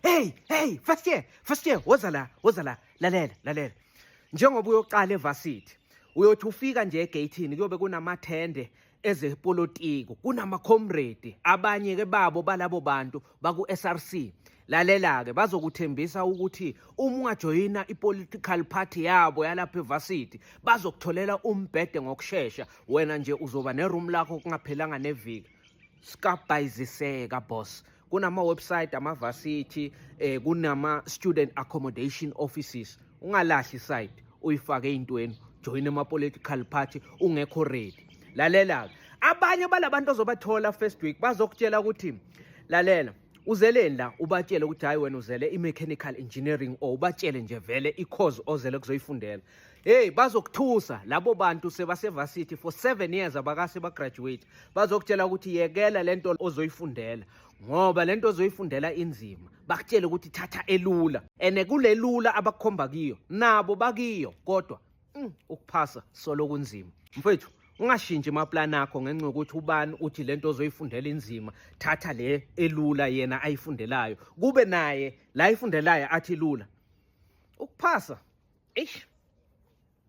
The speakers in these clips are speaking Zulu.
Hey, hey, first year, first year, woza la, woza la, lalela, lalela. Njengoba uyoqala evarsity, uyothi ufika nje egate-ini kuyobe kunamathende ezepolitiko, kunama-comrade, abanye ke babo balabo bantu baku-SRC. Lalela-ke bazokuthembisa ukuthi uma ungajoyina i-political party yabo yalapha evarsity, bazokutholela umbhede ngokushesha, wena nje uzoba ne-room lakho kungaphelanga neviki. Sikabhayiziseka boss. kunama-website amavasithi eh kunama-student accommodation offices ungalahli side uyifake ey'ntweni joyina ama-political party ungekho ready lalela-ke abanye balabantu ozobathola first week bazokutshela ukuthi lalela uzeleni la ubatshele ukuthi hhayi wena uzele i-mechanical engineering or ubatshele nje vele i-cause ozele kuzoyifundela Hey bazokuthusa labo bantu sebasevasithi for 7 years abakase ba graduate bazokutshela ukuthi yekela lento ozoyifundela ngoba lento ozoyifundela inzima bakutshele ukuthi thatha elula ene kulelula abakhomba kiyo nabo bakiyo kodwa mm, ukuphasa solo kunzima mfethu ungashintshi amaplan akho ngenxa yokuthi ubani uthi lento ozoyifundela inzima thatha le elula yena ayifundelayo kube naye la ifundelayo athi lula ukuphasa eish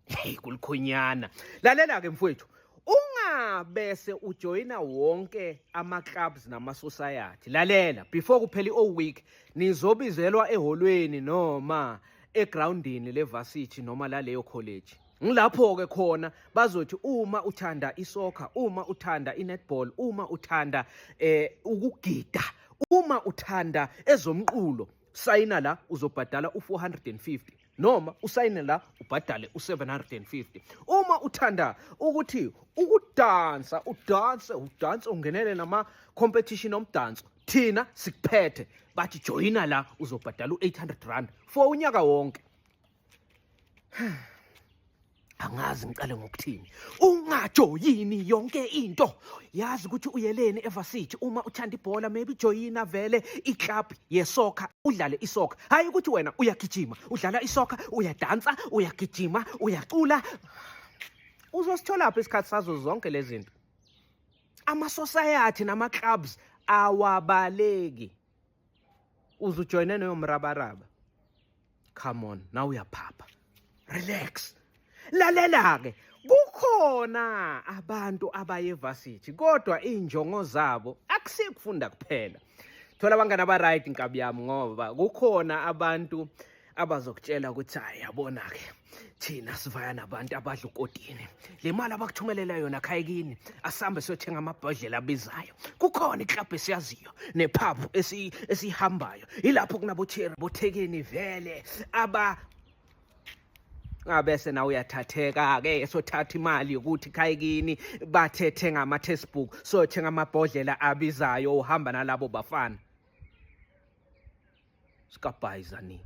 hey kulikhonyana lalela ke mfowethu ungabese ujoyina wonke ama clubs nama society lalela before kuphela i week nizobizelwa eholweni noma egroundini levarsity noma laleyo college ngilapho ke khona bazothi uma uthanda isoccer uma uthanda inetball uma uthanda eh ukugida uma uthanda ezomqulo sayina la uzobhadala u450 noma usayine la ubhadale u750 uma uthanda ukuthi ukudansa udanse udanse ungenele nama competition omdanso thina sikuphethe bathi joyina la uzobhadala u800 rand for unyaka wonke angazi ngiqale ngokuthini ungajoyini yonke into yazi ukuthi uyeleni evasithi uma uthanda ibhola maybe joyina vele iclub yesoka udlale isoka hayi ukuthi wena uyagijima udlala isoka uyadansa uyagijima uyacula uzositholaphi isikhathi sazo zonke lezi zinto amasosayati namaclubs awabaleki uze ujoyine neyo mrabaraba come on nawe uyaphapha relax lalela-ke kukhona abantu abaye evasithi kodwa iy'njongo zabo akusiye kufunda kuphela thola abangani aba-right nkabi yami ngoba kukhona abantu abazokutshela ukuthi hayi yabona-ke thina sivaya nabantu abadla ukotini le mali abakuthumelela yona khayekini asihambe siyothenga amabhodlela abizayo kukhona iklabhu esiyaziyo nephabu esiyihambayo yilapho kunabotheri bothekeni vele aba abese nawe uyathatheka-ke sothatha imali yokuthi khayekini bathethe ngama-textbook sothenga amabhodlela abizayo uhamba nalabo bafana sikabhayizanini